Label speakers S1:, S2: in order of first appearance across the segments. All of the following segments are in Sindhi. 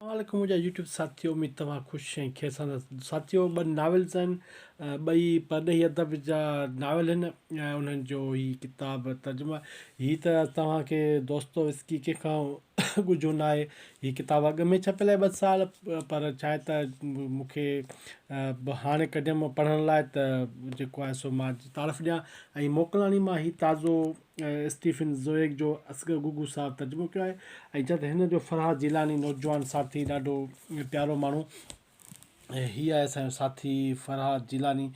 S1: السلام عليڪم منهنجا يوٽيوب ساٿيو اميد توهان خوش ۽ خير سان هوندا ساٿيو ٻه ناولز آهن ٻئي پرڏيهي ادب جا ناول آهن ۽ انهن جو هي ڪتاب ترجمو هي ته توهان کي دوستويسڪي ڪنهن کان ڳجهو نه آهي هي ڪتاب اڳ ۾ ڇپيل آهي ٻه سال پر ڇا آهي ته مون کي هاڻي ڪڍيم پڙهڻ لاء ته جيڪو آهي سو مان تعارف ڏيان ۽ موڪلان مان هي تازو اسٽيفن زوئيگ جو اصغر گگو صاحب ترجمو ڪيو آهي ۽ چئه ته هن جو فرحات جيلاني نوجوان ساٿي ڏاڍو پيارو ماڻهو ۽ هي آهي اسان جو ساٿي فرحات جيلاني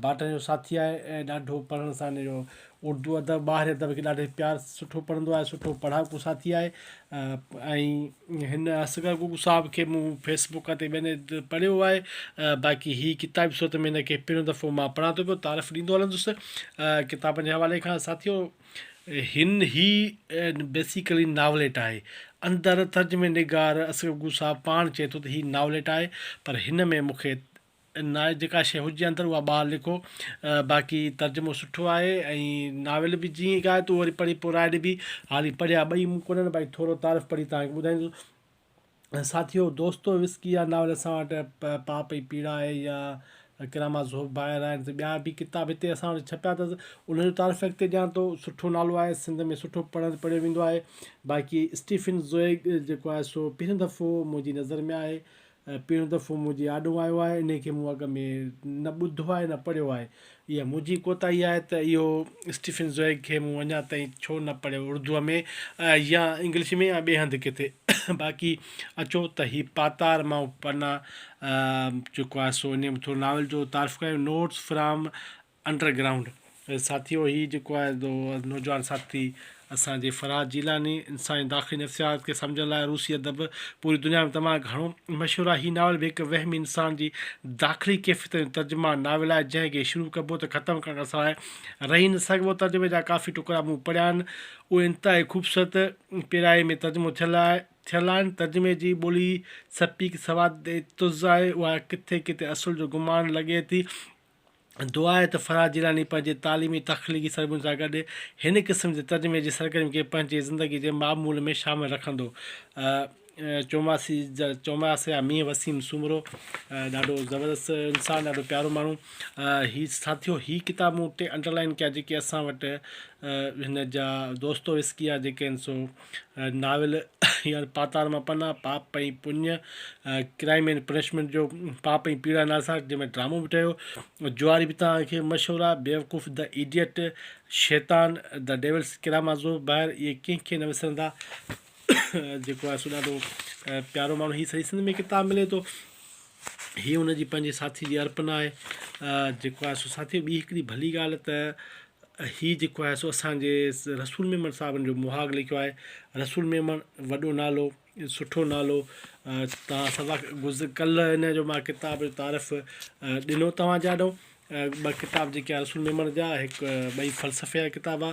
S1: باٽن جو ساٿي آهي ۽ ڏاڍو پڙهڻ سان هن جو اردو ادب ٻاهري ادب کي ڏاڍي پيار سٺو پڙهندو آهي سٺو پڙهاڪو ساٿي آهي ۽ هن اصغر گوگو صاحب کي مون فيس بوڪ تي ٻين هنڌ پڙهيو آهي باقي هي ڪتابي صورت ۾ هن کي پهريون دفعو مان پڙهان ٿو پيو تعارف ڏيندو هلندس ڪتابن جي حوالي کان ساٿيو هن هي بيسيڪلي ناوليٽ آهي اندر ترجمي نگار اصغر گوگو صاحب پاڻ چئي ٿو ته هي ناوليٽ آهي پر هن ۾ مون کي ناء جيڪا شيء هجي اندر اها ٻاهر لکو باقي ترجمو سٺو آهي ۽ ناول به جيئن هڪ آهي تون وري پڙهي پوء راء ڏبي هالي پڙهيا ٻئي مون ڪونهن باقي ٿورو تعارف پڙهي توهان کي ٻڌائيندس ساٿيو دوستو وسڪي اها ناول اسان وٽ پاپ ۽ پيڙا آهي يا ڪراما ذوب باهر آهن ته ٻيا به ڪتاب هتي اسان وٽ ڇپيا اٿس انهن جو تعارف اڳتي ڏيان ٿو سٺو نالو آهي سنڌ ۾ سٺو پڙهن پڙهيو ويندو آهي باقي اسٽيفن زوئگ جيڪو آهي سو پهريون دفعو منهنجي نظر ۾ آهي ۽ پهريون دفعو منهنجي آڏو آيو آهي انهي کي مون اڳ ۾ نه ٻڌو آهي نه پڙهيو آهي اها منهنجي ڪوتاهي آهي ته اهو اسٽيفن زوئگ کي مون اڃا تائين ڇو نه پڙهيو اردوء ۾ يا انگلش ۾ يا ٻئي هنڌ ڪٿي باقي اچو ته هي پاتار مان پنا چڪو آهي سو انهي ۾ ٿورو ناول جو تعارف ڪيو نوٽس فرام انڊر گرائونڊ ساٿيو هي جيڪو آهي سو نوجوان ساٿي اسان جي فرهاد جيلاني انساني داخلي نفسيات کي سمجهڻ لاء روسي ادب پوري دنيا ۾ تمام گهڻو مشهور آهي هي ناول به هڪ وهمي انسان جي داخلي ڪيفيتن جو ترجمان ناول آهي جنهن کي شروع ڪبو ته ختم ڪرڻ کان سواء رهي نه سگهبو ترجمي جا ڪافي ٽڪرا مون پڙهيا آهن اهي انتهائي خوبصورت پيرائي ۾ ترجمو ٿيل ٿيل آهن ترجمي جي ٻولي سپيڪ سواد تز آهي اها ڪٿي ڪٿي اصل جو گمان لڳي ٿي دعا آهي ته فرحات جيلاني پنهنجي تعليمي تخليقي سرگرمين سان گڏ هن قسم جي ترجمي جي سرگرمين کي پنهنجي زندگي جي معمول ۾ شامل رکندو. چوماسي جا چوماس يا مينهن وسيم سومرو ڏاڍو زبردست انسان ڏاڍو پيارو ماڻهو هي ساٿيو هي ڪتاب مون ٽي انڊرلائن ڪيا جيڪي اسان وٽ هن جا دوستو وسڪيا جيڪي آهن سو ناول يار پاتار مان پنا، پاپ ۽ پڃ، ڪرائيم اينڊ پنشمينٽ جو پاپ ۽ پيڙا نالي سان جنهن ۾ ڊرامو به ٺهيو، جواري به توهان کي مشهور آهي، بيوقوف، دي ايڊيٽ، شيطان، دي ڊيولس ڪرامازوف، بهر اهي ڪنهن کي نه وسرندا جيڪو آهي سو ڏاڍو پيارو ماڻهو هي سڄي سنڌ ۾ ڪتاب ملي ٿو. هيء هن جي پنهنجي ساٿيء جي ارپنا آهي جيڪو آهي سو ساٿيء ٻي هڪڙي ڀلي ڳالهه ته هيء جيڪو آهي سو اسانجي رسول ميمڻ صاحبن جو مهاڳ لکيو آهي رسول ميمڻ وڏو نالو سٺو نالو تان سبق گذ ڪل هن جو مان ڪتاب جو تعارف ڏنو توهان جي آڏو ٻه ڪتاب جيڪي آ رسول ميمڻ جا هڪ ٻئي فلسفي جا ڪتاب آ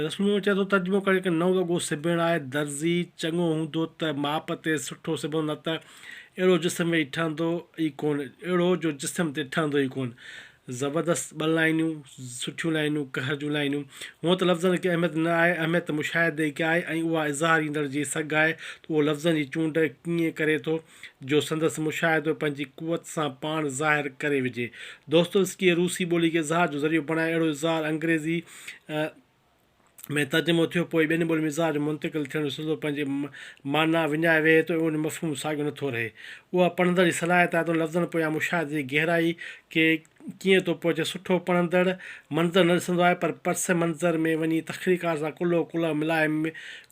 S1: رسول ميمڻ چئي ٿو ترجمو ڪري ڪي نئون وڳو سبڻ آهي درزي چڱو هوندو ته ماپ تي سٺو سبندو نه ته اهڙو جسم ويهي ٺهندو ئي ڪون اهڙو جو جسم تي ٺهندو ئي ڪون زبردست ٻه لائينون سٺيون لائينون قهر جون لائينون هونء ته لفظن کي اهميت نه آهي اهميت مشاهدي کي آهي ۽ اها اظهار ايندڙ جي سگهه آهي ته اهو لفظن جي چونڊ ڪيئن ڪري ٿو جو سندس مشاهدو پنهنجي قوت سان پاڻ ظاهر ڪري وجهي. دوستويسڪيء روسي ٻولي کي اظهار جو ذريعو بڻائي اهڙو اظهار انگريزيء ۾ ترجمو ٿيو پوء ٻين ٻولين ۾ اظهار جو منتقل ٿيڻ جو سلسلو پنهنجي معنيٰ وڃائي ويهي ته ان جو مفهوم ساڳيو نٿو رهي. اها پڙهندڙ جي صلاحيت آهي ته ان لفظن پويان مشاهدي جي گهرائي کي ڪيئن ٿو پهچي، سٺو پڙهندڙ منظر نه ڏسندو آهي پر پس منظر ۾ وڃي تخليقار سان ڪلهو ڪلهه ملائي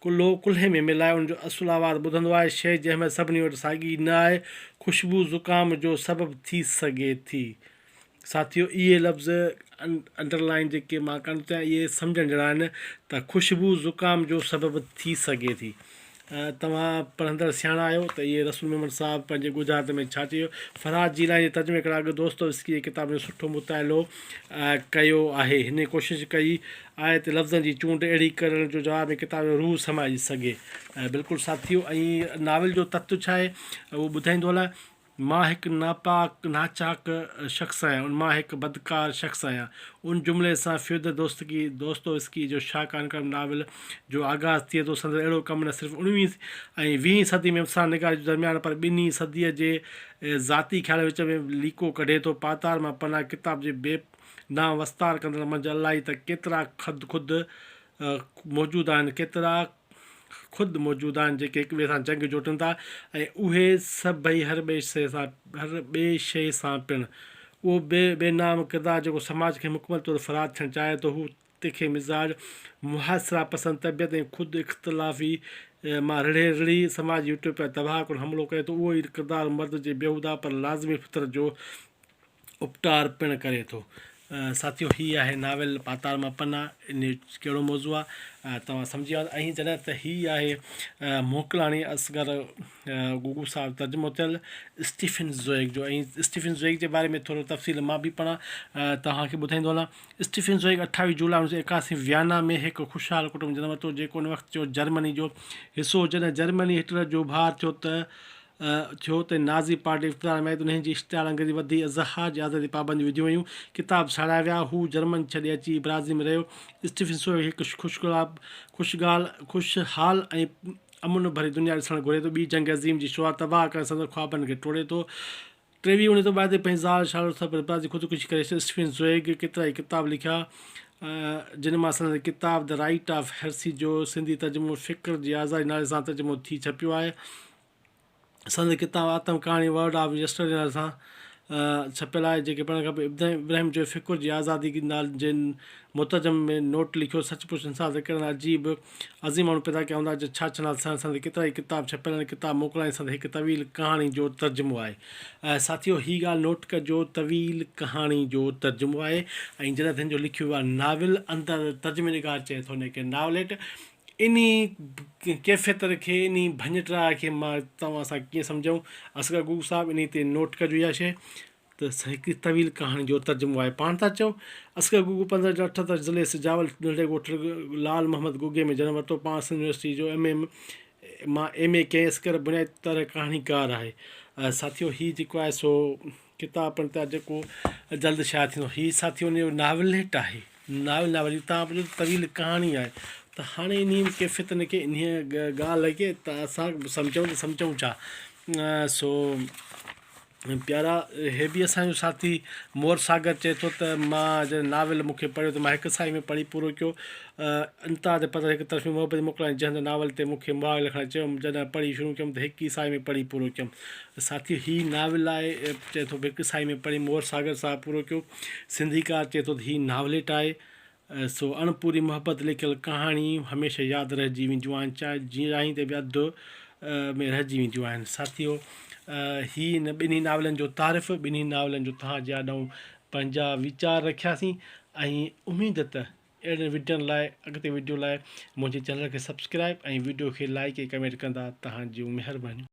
S1: ڪلهو ڪلهي ۾ ملائي ان جو اصل آواز ٻڌندو آهي، شيء جي اهميت سڀني وٽ ساڳي نه آهي، خوشبو زڪام جو سبب ٿي سگهي ٿي. ساٿيو اهي لفظ انڊر لائين جيڪي مان ڪرڻ ٿو چاهيان اهي سمجهڻ جهڙا آهن ته خوشبو زڪام جو سبب ٿي سگهي ٿي توهان پڙهندڙ سياڻا آهيو ته اهي رسول محمد صاحب پنهنجي ڳجهارت ۾ ڇا چيو. فرهاد جيلاني جي ترجمي ڪرڻ اڳ دوستويسڪي جي ڪتابن جو سٺو مطالعو ڪيو آهي. هن ڪوشش ڪئي آهي ته لفظن جي چونڊ اهڙي ڪرڻ جو جواب ۾ ڪتاب ۾ روح سمائجي سگهي. بلڪل ساٿيو ۽ ناول جو تت ڇا آهي اهو ٻڌائيندو هلان. مان هڪ ناپاڪ، ناچاڪ شخص آهيان، ان مان هڪ بدڪار شخص آهيان. ان جملي سان فيودر دوستڪي، Dostoevsky، جو شاهڪار ڪرم ناول جو آغاز ٿئي ٿو، سندس اهڙو ڪم نه صرف اڻويهين ۽ ويهين صدي ۾ افسانه نگاري جو درميان پر ٻنهي صديء جي ذاتي خيالن وچ ۾ به ليڪو ڪڍي ٿو. پاتار مان پناهه ڪتاب جي بي نام وستار ڪندڙن منجهه الائي ته ڪيترا خدخود موجود آهن، ڪيترا. خود موجود آهن جيڪي هڪ ٻئي سان جنگ جوٽن ٿا ۽ اهي سڀئي هر ٻئي شيء سان هر ٻئي شيء سان پڻ. اهو بي بي نام ڪردار جيڪو سماج کي مڪمل طور فرار ٿيڻ چاهي ٿو هو تکي مزاج، محاصره پسند طبيعت ۽ خود اختلافي مان رڙهي رڙهي سماجي يوٽوپيا تباهه ڪن حملو ڪري ٿو اهو ئي ڪردار مرد جي بيهوده پر لازمي فطرت جو اپٽار پڻ ڪري ٿو. ساٿيو هي آهي ناول پاتار مان پنا ان جو ڪهڙو موضوع آ توهان سمجهي ويا ۽ جڏهن ته هي آهي موڪلاڻي اصغر گوگو صاحب ترجمو ٿيل اسٽيفن زوئيگ جو ۽ اسٽيفن زوئيگ جي باري ۾ ٿورو تفصيل مان به پڻ توهان کي ٻڌائيندو هلان اسٽيفن زوئيگ اٺاويهه جولاء اڻويهه سو ايڪاسي ويانا ۾ هڪ خوشحال ڪٽنب ۾ جنم ورتو جيڪو ان وقت جو جرمني جو حصو هو جڏهن جرمني هٽلر جو ڀاء ٿيو ته ٿيو ته نازي پارٽي اقتدار ۾ آئي ته انهيء جي اشتعال انگيزي وڌي اظهار جي آزادي تي پابنديون وڌيون ويون، ڪتاب ساڙيا ويا، هو جرمن ڇڏي اچي برازيل ۾ رهيو. اسٽيفن سوئي هڪ خوشگال، خوشحال ۽ امن ڀري دنيا ڏسڻ گهري ٿو، ٻي جنگ عظيم جي شروعات تباهه ڪرڻ سندس خوابن کي ٽوڙي ٿو، ٽيوي اڻ اعتبار تي پنهنجي زال شارلوٽ سان پڻ پراتي خودڪشي ڪري ڇڏي. اسٽيفن زوئيگ ڪيترائي ڪتاب لکيا، جن مان سندن ڪتاب The Right of Heresy جو سنڌي ترجمو فڪر جي آزادي نالي سان ترجمو ٿي ڇپيو آهي. سندن ڪتاب آتم ڪهاڻي Word of Yesterday نالي سان ڇپيل آهي، جنهن کي پڙهڻ کانپوء ابراهيم جويي فڪر جي آزادي جي مترجم ۾ نوٽ لکيو، سچ پچ انسان ته ڪهڙن عجيب عظيم ماڻهو پيدا ڪيا هوندا جو ڇا ڇنال سهڻ سندي ڪيترا ئي ڪتاب ڇپيل آهن ڪتاب موڪلائڻ سندي هڪ طويل ڪهاڻي جو ترجمو آهي ۽ ساٿيو هي ڳالهه نوٽ ڪجو طويل ڪهاڻي جو ترجمو آهي ۽ جڏهن تنهن جو لکيو ويو آهي ناول اندر ترجمه نگار چئي ٿو ان کي ناوليٽ انهي ڪيفيت کي انهي ڀڃٽراء کي مان توهان سان ڪيئن سمجهائون اصغر گوگو صاحب انهي تي نوٽ ڪجو اها شيء ته سهڪي طويل ڪهاڻي جو ترجمو آهي. پاڻ ٿا چئو. اصغر گوگو پندرهن جون اٺهتر ضلعي سجاول ننڍڙي ڳوٺ لعل محمد گوگي ۾ جنم ورتو. پاڻ سنڌ يونيورسٽيء جو ايم اي مان ايم اي ڪيائين. اصغر بنيادي طرح ڪهاڻيڪار آهي. ساٿيو هي جيڪو آهي سو ڪتاب پڻ تيار جيڪو جلد شايع ٿيندو. هي ساٿيو ان جو ناوليٽ آهي. ناول ناول جي تان پڇو ته طويل ڪهاڻي آهي. ته هاڻي انهيء ڪيفيت ۾ ڪي انهيء ڳالهه کي ته اسان سمجهون ته سمجهون ڇا؟ سو پيارا، هي به اسان جو ساٿي مور ساگر چئي ٿو ته مان جڏهن ناول مون کي پڙهيو ته مان هڪ ساهي ۾ پڙهي پورو ڪيو. انتها تي پڌر هڪ طرفي محبت جي موڪلائين جهنڌ ناول تي مون کي مهاڳ لکڻ لاء چيم. جڏهن پڙهي شروع ڪيم ته هڪ ئي ساهي ۾ پڙهي پورو ڪيم. ساٿيو هي ناول آهي چئي ٿو به هڪ ساهي ۾ پڙهي مور ساگر صاحب پورو ڪيو. سنڌيڪار چئي ٿو ته هي ناوليٽ آهي. سو اڻپوري محبت لکيل ڪهاڻيون هميشه ياد رهجي وينديون آهن چاهي جيئن راهين تي به اڌ ۾ رهجي وينديون آهن ساٿيو هي هن ٻنهي ناولن جو تعارف ٻنهي ناولن جو توهان جي آڏائون پنهنجا ويچار رکياسين ۽ اميد ته اهڙن وڊيون لاء اڳتي وڊيو لاء منهنجي چينل کي سبسڪرائب ۽ وڊيو کي لائڪ ۽ ڪمينٽ ڪندا توهان جون مهربانيون.